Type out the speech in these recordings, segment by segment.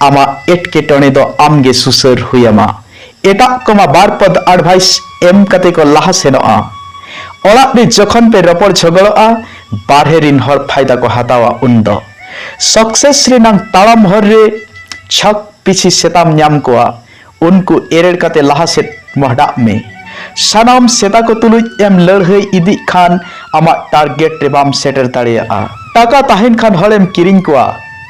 ᱟᱢᱟᱜ ᱮᱴᱠᱮᱴᱚᱬᱮ ᱫᱚ ᱟᱢ ᱜᱮ ᱥᱩᱥᱟᱹᱨ ᱦᱩᱭ ᱟᱢᱟ᱾ ᱮᱴᱟᱜ ᱠᱚ ᱢᱟ ᱵᱟᱨ ᱯᱚᱫᱽ ᱟᱰᱵᱷᱟᱭᱤᱥ ᱮᱢ ᱠᱟᱛᱮ ᱠᱚ ᱞᱟᱦᱟ ᱥᱮᱱᱚᱜᱼᱟ᱾ ᱚᱲᱟᱜ ᱨᱮ ᱡᱚᱠᱷᱚᱱ ᱯᱮ ᱨᱚᱯᱚᱲ ᱡᱷᱚᱜᱚᱲᱚᱜᱼᱟ, ᱵᱟᱨᱦᱮ ᱨᱤᱱ ᱦᱚᱲ ᱯᱷᱟᱭᱫᱟ ᱠᱚ ᱦᱟᱛᱟᱣᱟ ᱩᱱ ᱫᱚ᱾ ᱥᱚᱠᱥᱮᱥ ᱨᱮᱱᱟᱝ ᱛᱟᱲᱟᱢ ᱦᱚᱨ ᱨᱮ ᱪᱷᱚᱠ ᱯᱤᱪᱷᱤ ᱥᱮᱛᱟᱢ ᱧᱟᱢ ᱠᱚᱣᱟ᱾ ᱩᱱᱠᱩ ᱮᱨᱮᱲ ᱠᱟᱛᱮ ᱞᱟᱦᱟ ᱥᱮᱫ ᱢᱚᱦᱰᱟᱜ ᱢᱮ᱾ ᱥᱟᱱᱟᱢ ᱥᱮᱛᱟ ᱠᱚ ᱛᱩᱞᱩᱡ ᱮᱢ ᱞᱟᱹᱲᱦᱟᱹᱭ ᱤᱫᱤᱜ ᱠᱷᱟᱱ ᱟᱢᱟᱜ ᱴᱟᱨᱜᱮᱴ ᱨᱮ ᱵᱟᱢ ᱥᱮᱴᱮᱨ ᱫᱟᱲᱮᱭᱟᱜᱼᱟ᱾ ᱴᱟᱠᱟ ᱛᱟᱦᱮᱸᱱ ᱠᱷᱟᱱ ᱦᱚᱲ ᱮᱢ ᱠᱤᱨᱤᱧ ᱠᱚᱣᱟ,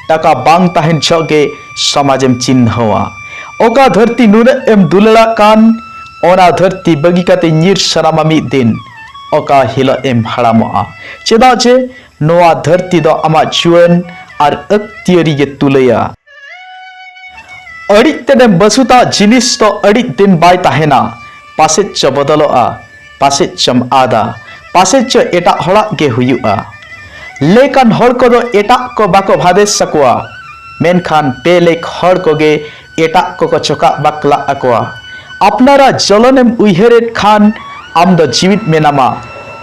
ᱴᱟᱠᱟ ᱵᱟᱝ ᱛᱟᱦᱮᱸᱱ ᱡᱷᱚᱜ ᱜᱮ ᱥᱚᱢᱟᱡᱽ ᱮᱢ ᱪᱤᱱᱦᱟᱹᱣᱟ᱾ ᱚᱠᱟ ᱫᱷᱟᱹᱨᱛᱤ ᱱᱩᱱᱟᱹᱜ ᱮᱢ ᱫᱩᱞᱟᱹᱲᱟᱜ ᱠᱟᱱ, ᱚᱱᱟ ᱫᱷᱟᱹᱨᱛᱤ ᱵᱟᱹᱜᱤ ᱠᱟᱛᱮ ᱧᱤᱨ ᱥᱟᱱᱟᱢᱟ ᱢᱤᱫ ᱫᱤᱱ, ᱚᱠᱟ ᱦᱤᱞᱚᱜ ᱮᱢ ᱦᱟᱲᱟᱢᱚᱜᱼᱟ᱾ ᱪᱮᱫᱟᱜ ᱡᱮ ᱱᱚᱶᱟ ᱫᱷᱟᱹᱨᱛᱤ ᱫᱚ ᱟᱢᱟᱜ ᱡᱩᱣᱟᱹᱱ ᱟᱨ ᱟᱹᱠᱛᱤᱭᱟᱹᱨᱤ ᱜᱮ ᱛᱩᱞᱟᱹᱭᱟ᱾ ᱟᱹᱰᱤ ᱛᱮᱱᱮᱢ ᱵᱟᱹᱥᱩᱛᱟ ᱡᱤᱱᱤᱥ ᱫᱚ ᱟᱹᱰᱤ ᱫᱤᱱ ᱵᱟᱭ ᱛᱟᱦᱮᱱᱟ ᱯᱟᱥᱮᱡ ᱪᱚ ᱵᱚᱫᱚᱞᱚᱜᱼᱟ ᱯᱟᱥᱮᱡ ᱪᱚᱢ ᱟᱫᱟ ᱯᱟᱥᱮᱡ ᱪᱚ ᱮᱴᱟᱜ ᱦᱚᱲᱟᱜ ᱜᱮ ᱦᱩᱭᱩᱜᱼᱟ ᱞᱮᱠᱟᱱ ᱦᱚᱲ ᱠᱚᱫᱚ ᱮᱴᱟᱜ ᱠᱚ ᱵᱟᱠᱚ ᱵᱷᱟᱫᱮᱥ ᱟᱠᱚᱣᱟ ᱢᱮᱱᱠᱷᱟᱱ ᱵᱮᱞᱮᱠ ᱦᱚᱲ ᱠᱚᱜᱮ ᱮᱴᱟᱜ ᱠᱚᱠᱚ ᱪᱚᱠᱟᱜ ᱵᱟᱠᱞᱟᱜ ᱟᱠᱚᱣᱟ ᱟᱯᱱᱟᱨᱟᱜ ᱡᱚᱞᱚᱱᱮᱢ ᱩᱭᱦᱟᱹᱨᱮᱫ ᱠᱷᱟᱱ ᱟᱢ ᱫᱚ ᱡᱤᱣᱤᱫ ᱢᱮᱱᱟᱢᱟ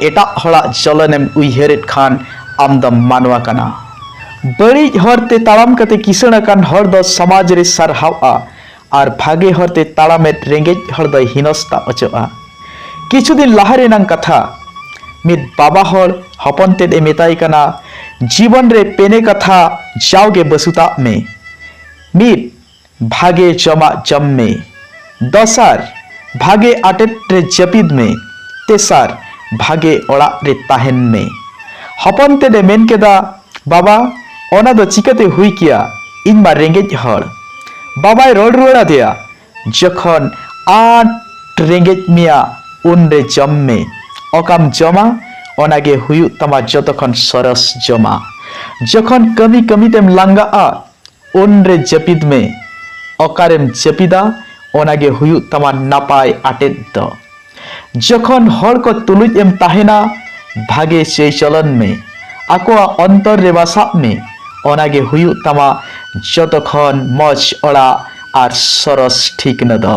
ᱮᱴᱟᱜ ᱦᱚᱲᱟᱜ ᱡᱚᱞᱚᱱᱮᱢ ᱩᱭᱦᱟᱹᱨᱮᱫ ᱠᱷᱟᱱ ᱟᱢ ᱫᱚᱢ ᱢᱟᱱᱣᱟ ᱠᱟᱱᱟ ᱵᱟᱹᱲᱤᱡ ᱦᱚᱨ ᱛᱮ ᱛᱟᱲᱟᱢ ᱠᱟᱛᱮ ᱠᱤᱥᱟᱹᱬ ᱟᱠᱟᱱ ᱦᱚᱲ ᱫᱚ ᱥᱚᱢᱟᱡᱽ ᱨᱮ ᱥᱟᱨᱦᱟᱣᱜᱼᱟ ᱟᱨ ᱵᱷᱟᱜᱮ ᱦᱚᱨ ᱛᱮ ᱛᱟᱲᱟᱢᱮᱫ ᱨᱮᱸᱜᱮᱡ ᱦᱚᱲ ᱫᱚᱭ ᱦᱤᱱᱚᱥᱛᱟ ᱚᱪᱚᱜᱼᱟ᱾ ᱠᱤᱪᱷᱩ ᱫᱤᱱ ᱞᱟᱦᱟ ᱨᱮᱱᱟᱝ ᱠᱟᱛᱷᱟ, ᱢᱤᱫ ᱵᱟᱵᱟ ᱦᱚᱲ ᱦᱚᱯᱚᱱ ᱛᱮᱫ ᱮ ᱢᱮᱛᱟᱭ ᱠᱟᱱᱟ, ᱡᱤᱵᱚᱱ ᱨᱮ ᱯᱮᱱᱮ ᱠᱟᱛᱷᱟ ᱡᱟᱣᱜᱮ ᱵᱟᱹᱥᱩᱛᱟᱜ ᱢᱮ᱾ ᱢᱤᱫ᱾ ᱵᱷᱟᱜᱮ ᱡᱚᱢᱟᱜ ᱡᱚᱢ ᱢᱮ᱾ ᱫᱚᱥᱟᱨ, ᱵᱷᱟᱜᱮ ᱟᱴᱮᱫ ᱨᱮ ᱡᱟᱹᱯᱤᱫ ᱢᱮ᱾ ᱛᱮᱥᱟᱨ, ᱵᱷᱟᱜᱮ ᱚᱲᱟᱜ ᱨᱮ ᱛᱟᱦᱮᱸᱱ ᱢᱮ᱾ ᱦᱚᱯᱚᱱ ᱛᱮᱫ ᱮ ᱢᱮᱱ ᱠᱮᱫᱟ, ᱵᱟᱵᱟ, ᱚᱱᱟ ᱫᱚ ᱪᱤᱠᱟᱹᱛᱮ ᱦᱩᱭ ᱠᱮᱭᱟ, ᱤᱧ ᱢᱟ ᱨᱮᱸᱜᱮᱡ ᱦᱚᱲ᱾ ᱵᱟᱵᱟᱭ ᱨᱚᱲ ᱨᱩᱣᱟᱹᱲ ᱟᱫᱮᱭᱟ, ᱡᱚᱠᱷᱚᱱ ᱟᱸᱴ ᱨᱮᱸᱜᱮᱡ ᱢᱮᱭᱟ ᱩᱱ ᱨᱮ ᱡᱚᱢ ᱢᱮ᱾ ᱚᱠᱟᱢ ᱡᱚᱢᱟ ᱚᱱᱟ ᱜᱮ ᱦᱩᱭᱩᱜ ᱛᱟᱢᱟ ᱡᱚᱛᱚ ᱠᱷᱚᱱ ᱥᱚᱨᱚᱥ ᱡᱚᱢᱟᱜ᱾ ᱡᱚᱠᱷᱚᱱ ᱠᱟᱹᱢᱤ ᱠᱟᱹᱢᱤ ᱛᱮᱢ ᱞᱟᱸᱜᱟᱜᱼᱟ ᱩᱱᱨᱮ ᱡᱟᱹᱯᱤᱫ ᱢᱮ ᱚᱠᱟᱨᱮᱢ ᱡᱟᱹᱯᱤᱫᱟ ᱚᱱᱟᱜᱮ ᱦᱩᱭᱩᱜ ᱛᱟᱢᱟ ᱱᱟᱯᱟᱭ ᱟᱴᱮᱫ ᱫᱚ ᱡᱚᱠᱷᱚᱱ ᱦᱚᱲ ᱠᱚ ᱛᱩᱞᱩᱡ ᱮᱢ ᱛᱟᱦᱮᱱᱟ ᱵᱷᱟᱜᱮ ᱪᱟᱹᱭ ᱪᱚᱞᱚᱱ ᱢᱮ ᱟᱠᱚᱣᱟᱜ ᱚᱱᱛᱚᱨ ᱨᱮ ᱵᱟᱥᱟᱜ ᱢᱮ ᱚᱱᱟᱜᱮ ᱦᱩᱭᱩᱜ ᱛᱟᱢᱟ ᱡᱚᱛᱚ ᱠᱷᱚᱱ ᱢᱚᱡᱽ ᱚᱲᱟᱜ ᱟᱨ ᱥᱚᱨᱚᱥ ᱴᱷᱤᱠᱱᱟ ᱫᱚ